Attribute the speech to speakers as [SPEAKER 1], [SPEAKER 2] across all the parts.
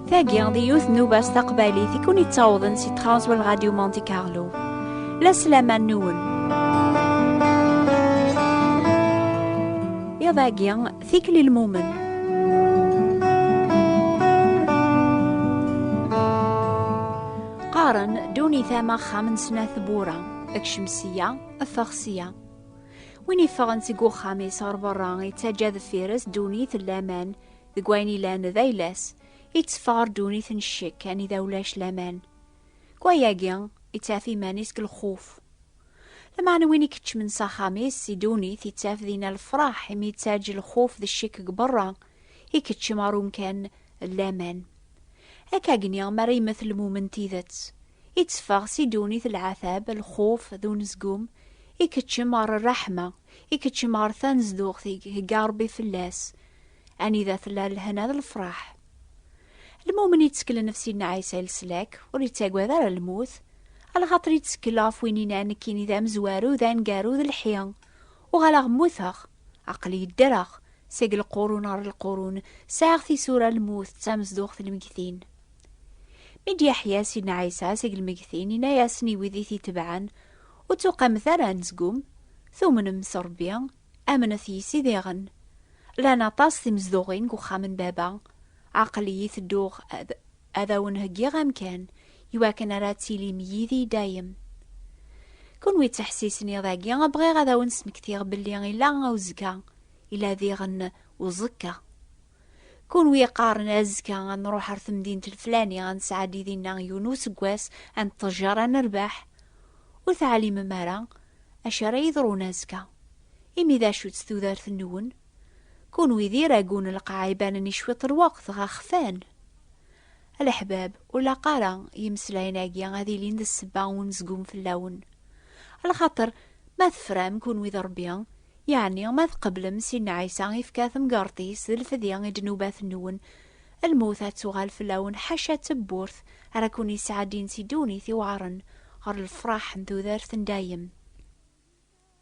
[SPEAKER 1] Tagi di yiwet n ubas taqbaylit i kun-ittawḍen si Transwell Radio Monte Carlo. La slaman nwen. Iḍ-agi, Tikli lmumen. Qqaren dunit am axxam n snat bura, ekcem sya, effeɣ sya. Win iffɣen seg uxxam-is ɣer berra yettaǧǧa deffir-s dunit n laman deg wayen ilan d ayla-s, yetteffeɣ dunit n ccek anida ulac laman. Deg wayagi, yettaf iman-is deg lxuf. Lameɛna win i keččmen s axxam-is si ddunit ittaf dinna lefraḥ imi ittaǧǧ lxuf d ccek deg berra, ikeččem ɣer umkan n laman. Akkagni mi ara yemmet lmumen n tidet, itteffeɣ si ddunit lɛatab, lxuf d unezgum, ikeččem ɣer rraḥma, ikeččem ɣer tanezduɣt i ihegga Rebbi fell-as, anida tella lehna d lefraḥ. Lmumen itteklen ɣef Sidna Ɛisa i leslak, ur ittagad ara lmut, Alxaṭer yettsekkel ɣef win yenna nekkini d amezwaru, d aneggaru, d lḥi. Uɣaleɣ mmuteɣ. Aql-i ddreɣ. Seg lqurun ɣer lqurun, sɛiɣ tisura, lmut d tamezduɣt n lmegtin. Mi d-yeḥya Sidna Ɛisa seg lmegtin, yenna-yasen i wid i t-itebɛen, Ur tuqamet ara anezgum, tumnem s Ṛebbi, amnet yis-i diɣen. Llan aṭas timezduɣin deg uxxam n Baba. Aql-iyi tedduɣ ad. Ad awen-heggiɣ amkan iwakken ara tilim yid-i dayem. Kunwi d tiḥsisin iḍ-agi, bɣiɣ ad awen-smektiɣ belli ila uzekka, ila diɣen uẓekka. Kunwi yeqqaren azekka ad nruḥ ar temdint leflani ad nesɛeddi dinna yiwen useggas, ad neṭṭejjar, ad nerbeḥ. Ur teɛlimem ara acu ara yeḍrun azekka. Imi d acu-tt tudert-nwen? Kunwi d iragun lqaɛ ibanen-i cwiṭ lweqt ɣa xfan. A leḥbab, ur laq ara yimeslayen-agi ad ilin d ssebba n unezgum fell-awen. A lxaṭer, ma tefram kunwi d Ṛebbi, yeɛni ma tqeblem Sidna Ɛisa ifka temgerṭ-is d lfedya i ddnubat-nwen, lmut ad tuɣal fell-awen ḥaca tewwurt ara ken-yesɛeddin si ddunit iweɛṛen ɣer lefṛaḥ n tudert n dayem.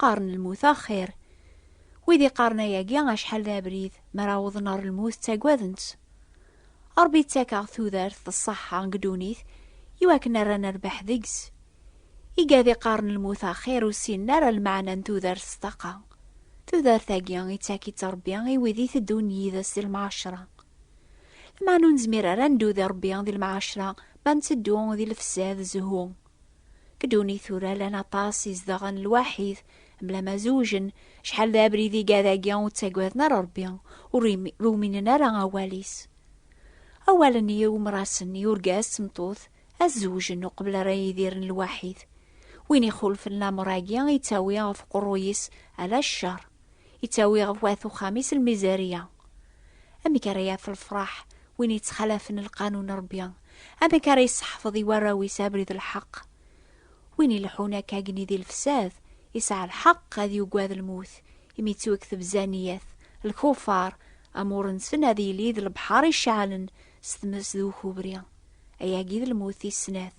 [SPEAKER 1] Qqaren lmut axir. Wid iqqaren ayagi acḥal d abrid, mi ara awḍen ɣer lmut ttagaden-tt. Ṛebbi yettak-aɣ tudert d ṣṣeḥḥa deg ddunit i wakken ara nerbeḥ deg-s. Igad iqqaren lmut axir ur ssinen ara lmeɛna n tudert s ṭṭaqa. Tudert-agi ittak-itt Ṛebbi i wid iteddun yid-s di lemɛacṛa. Lameɛna ur nezmir ara ad neddu di Ṛebbi di lemɛacṛa ma nteddu di lefsad, zzhu, Kduni tura lan aṭas izdaɣen lwaḥid, mla ma zewjen, cḥal d abrid iga dagi ur ttagaden ara Rebbi, ur ruminen ara awal-is. Awalen i umrasen, i urgaz d tmeṭṭut, ad zewjen uqbel ara yidiren lwaḥid. Win ixulfen lamer-agi, yettawi ɣef uqerruy-is ala ccer. yettawi ɣef wat uxxam-is lmizariya. Amek ara yaf lefraḥ win yettxalafen lqanun n Rebbi? Amek ara yesseḥfeḍ i warraw-is abrid n lḥeqq? Win ileḥḥun akka agni di lefsad, yesɛa lḥeqq ad yugad lmut, imi yettweg tebza niyat, lkufar, amur-nsen ad yili d lebḥer iceɛlen s tmes d ukubri. Ayagi d lmut tis snat.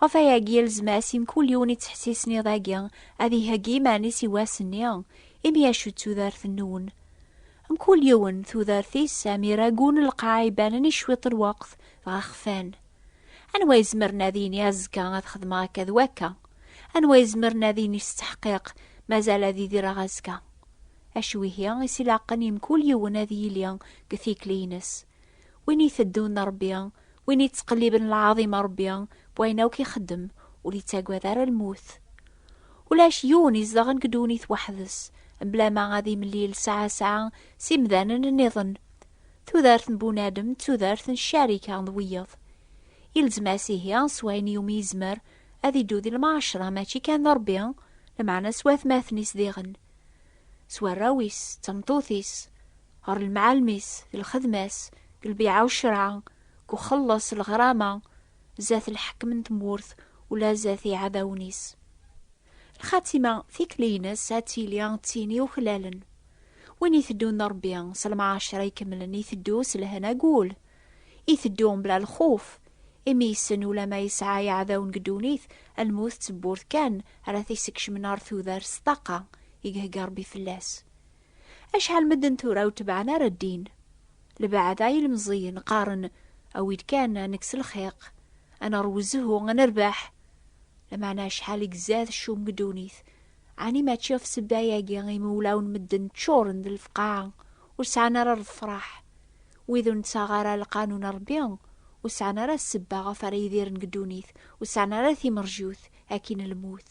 [SPEAKER 1] Ɣef wayagi i lezmas i mkul yiwen yettḥessisen iḍ-agi ad iheggi iman-is i wass-nni, imi acu d tudert-nwen? Mkul yiwen, tudert-is, am iragu n lqaɛ ibanen i cwiṭ n lweqt, dɣa xfan. Anwa izemren ad yini azekka ad xedmeɣ akka d wakka? Anwa izemren ad yini s tteḥqiq mazal ad idireɣ azekka? Acu ihi is ilaqen i mkul yiwen ad yili deg tikli-ines? Win iteddun Ṛebbi, win ittqelliben lɛaḍim a Ṛebbi, wayen akk ixeddem, ur ittagad ara lmut. Ulac yiwen izedɣen deg ddunit weḥd-s, mebla ma ad imlil saɛa saɛa s imdanen nniḍen. Tudert n bunadem d tudert n ccarika d wiyeḍ. Ilzem-as ihi s wayen iwumi yezmer ad iddu di lmɛacra mačči kan d Ṛebbi, lameɛna s watmaten-is diɣen, s warraw-is, d tmeṭṭut-is, ɣer lemɛalem-is, di lxedma-s, deg lbiɛa u ccreɛ, deg uxelleṣ, lɣrama, zdat lḥekem n tmurt, ula zdat iɛdawen-is. Lxatima, tikli-ines, ad tili d tin yuklalen. Win iteddun d Ṛebbi, s lemɛaceṛ ikemlen, iteddu s lehna deg wul. Iteddu mebla lxuf, imi yessen ulamma yesɛa iɛdawen deg ddunit, lmut d tewwurt kan ara t-isekcmen ɣer tudert s ṭṭaqa i ihegga Ṛebbi fell-as. Acḥal medden tura ur tebɛen ara ddin. Lbeɛda i lemẓiyen qqaren awi-d kan ad nekkes lxiq, ad neṛwu zzhu, ad nerbeḥ. Lameɛna acḥal i izad ccum deg ddunit, ɛni mačči ɣef ssebba-agi imi ulawen medden ččuren d lefqaɛa, ur sɛan ara lefṛaḥ? Wid ur nettaɣ ara lqanun n Ṛebbi ur sɛan ara ssebba ɣef ara idiren deg ddunit, ur sɛan ara timerjut akkin lmut.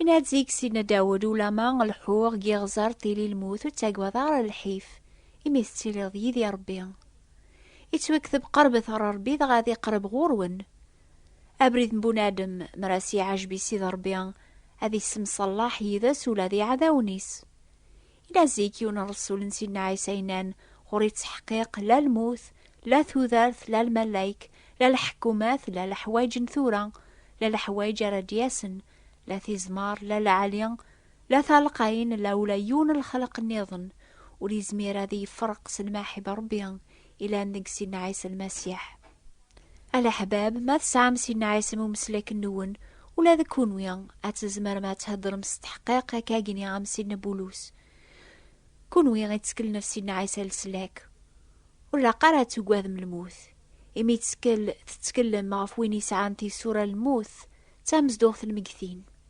[SPEAKER 1] Inna-d seg Sidna Dawed, Ulama lḥuɣ giɣẓer tili lmut ur ttagwad ara lḥif, imi tettiliḍ yid-i Rebbi. Ittwekteb qerbet ɣer Rebbi dɣa ad iqreb ɣur-wen. Abrid n bunadem, mer as-iɛajeb i Sidi Rebbi, ad issemṣellaḥ yid-s ula d iɛdawen-is. Ila zik yiwen n Ṛesul n Sidna Ɛisa yennan, Ɣur-i ttḥeqqiq la lmut, la tudert, la lmalayek, la leḥkumat, la leḥwayeǧ n tura, la leḥwayeǧ ara d-yasen, la tizmar, la lɛali, la talqayin, la ula yiwen n lexleq nniḍen ur yezmir ad iyi-ferreq s lmaḥib n Ṛebbi ilan deg Sidna Ɛisa Lmasiḥ. A leḥbab, ma tesɛam sin n ɛisem umeslaken-nwen, ula d kunwi, ad tzemrem ad theddrem s teḥqiq akka gni am Sidna Bulus. Kunwi itteklen ɣef Sidna Ɛisa leslak, ur ilaq ara ad tugadem lmut, imi tettkel, tetteklem ɣef win yesɛan tisura n lmut d tamezduɣt n lmegtin.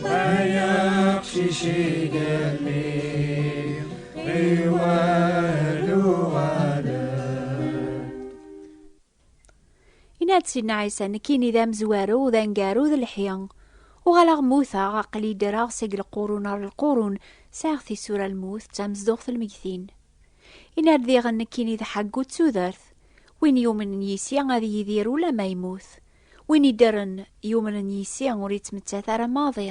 [SPEAKER 2] Ay aqcic igalli iwal uɣalan
[SPEAKER 1] Inna-d Sidna Ɛisa, nekkini d amezwaru, d angaru, d lḥi. Uɣaleɣ mmuteɣ, aql-i ddreɣ seg lqurun ar lqurun, sɛiɣ tisura lmut, d tamezduɣt lmegtin. Inna-d diɣen nekkini d ḥaggu d tudert, win yumnen yis-i ad yidir ula ma yemmut, Win iddren yumnen yis-i ur yettmettat ara maḍi.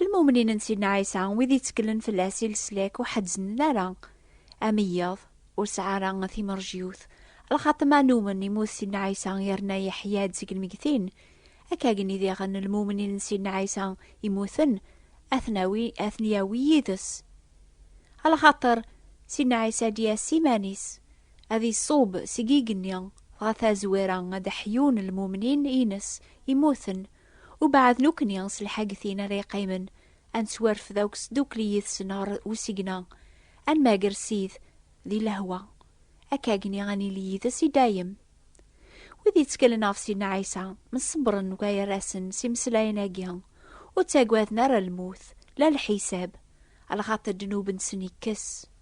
[SPEAKER 1] Lmumnin n Sidna Ɛisa, wid itteklen fell-as i leslak ur ḥezznen ara. Ameyyaḍ ur sɛa ara timerjyut, lxaṭ ma numen immut Sidna Ɛisa yerna yeḥya-d seg lmeggtin. Akkagen diɣen lmumnin n Sidna Ɛisa immuten ad ten-yawi yid-s. Lxaṭer Sidna Ɛisa ad d-yas s iman-is, Ad iṣub seg igenni, dɣa tazwira ad ḥyun lmumnin ines imuten, ubeɛd nukni s lḥagtin ara iqqimen, ad nettwarfed akk sdukli yid-sen ɣer usigna, ad nmager Sid di lehwa, akkagni ad nili yid-s i dayem. Wid yettkelen ɣef Sidna Ɛisa, mṣebbren deg wayerra-sen s imeslayen-agi, ur ttagaden ara lmut, la lḥisab, lxaṭer ddnub-nsen ikkes.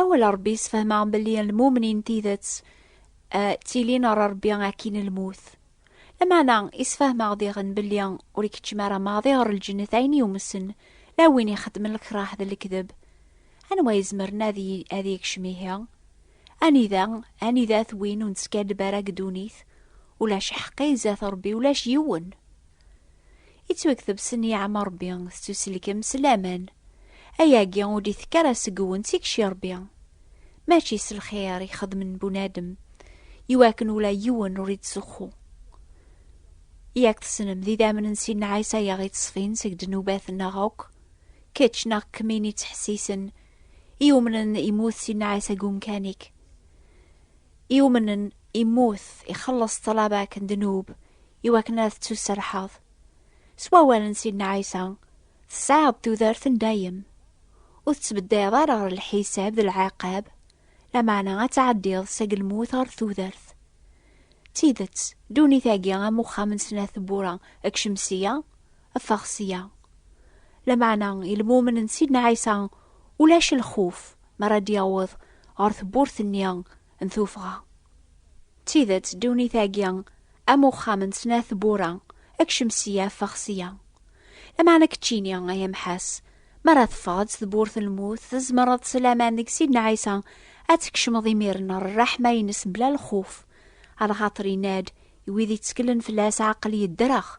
[SPEAKER 1] Awal Ṛebbi sfehmeɣ belli lmumnin tidet ttilin ɣer Ṛebbi akkin lmut. Lameɛna isfehmeɣ diɣen belli ur ikeččem ara maḍi ɣer lǧennet ayen yumsen la win ixeddmen lekraḥ d lekdeb. Anwa izemren ad yekcem ihi? Anida, anida-t win ur neskaddeb ara deg ddunit, ulac ḥeqqi zdat Rebbi, ulac yiwen. Ittwakteb s nniɛam Rebbi, tettuselkem s laman. Ayagi ur d-itekk ara seg-wen d tikci Rebbi. Mačči s lxir i xedmen bunadem, iwakken ula yiwen ur ittzuxxu. Yak tessnem d idammen n Sidna Ɛisa i aɣ-ittṣfin seg ddnubat-nneɣ akk. Kečč neɣ kemmini ttḥessisen i umnen imut si nnaɛis agi umkanik i umnen imut ixelleṣ ṭṭlaba-k n ddnub i wakken ad tettuserḥeḍ s wawal n Sidna Ɛisa tesɛiḍ tudert n dayem ur tettbeddayeḍ ara ɣer lḥisab d lɛiqab lameɛna ad tɛeddiḍ seg lmut ɣer tudert d tidet ddunit-agi am uxxam n snat tewwura deg cemsiya ffeɣ sya. Lameɛna i lmumen n Sidna Ɛisa, ulac lxuf mi ara d-yaweḍ ɣer tewwurt-nni n tuffɣa. D tidet, ddunit-agi am uxxam n snat tewwura, kcem sya, ffeɣ sya. Lameɛna keččini, ay amḥas, mi ara teffɣeḍ s tewwurt n lmut, tzemreḍ s laman deg Sidna Ɛisa ad tkecmeḍ imiren ɣer rreḥma-ines mebla lxuf, ar lxaṭer yenna-d i wid itteklen fell-as, Aql-i ddreɣ.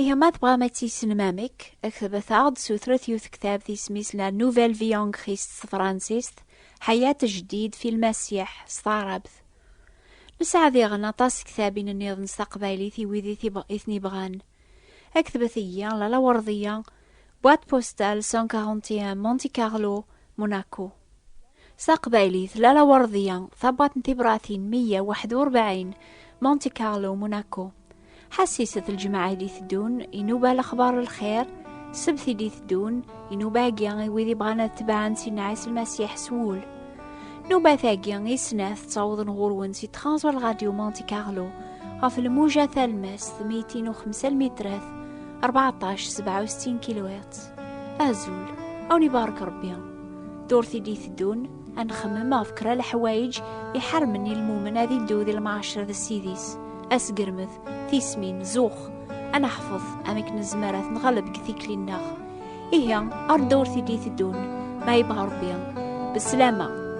[SPEAKER 1] Ihi ma tebɣam ad tissnem amek, ktbet-aɣ-d sutret yiwet ktabt isem-is La Nouvelle Vie en Christ s tefransist, Hayat Jdid fi Lmasiḥ s taɛrabt. Nesɛa diɣen aṭas n ktabin nniḍen s taqbaylit i wid i ten-ibɣan. Ktbet iyi, La Lawerḍiya, boîte postale 141 Monte Carlo, Monaco. Taqbaylit, Lala Werdiya, Tabɣat n tibratin, 141, Monte Carlo, Monaco. Ḥassiset lǧemɛa i d-iteddun, inuba lexbar n lxir, sebt i d-iteddun, inuba agi i wid ibɣan ad tebɛen si nɛis lmasiḥ s wul. Nubat-agi i snat ttawḍen ɣur-wen si Transwal Radio Monte Carlo ɣef lmuja talmest 205 lmitrat 14 67 kilohertz. Azul, awen ibarek Rebbi. Ddurt i d-iteddun, ad nxemmem ɣef kra leḥwayeǧ iḥarmen i lmumen ad iddu di lmaɛacer d ssid-is, asgermed, tismin, zux, ad neḥfeḍ amek nezmer ad t-nɣaleb deg tikli-nneɣ. Ihi, ar ddurt i d-iteddun, ma yebɣa Rebbi, beslama!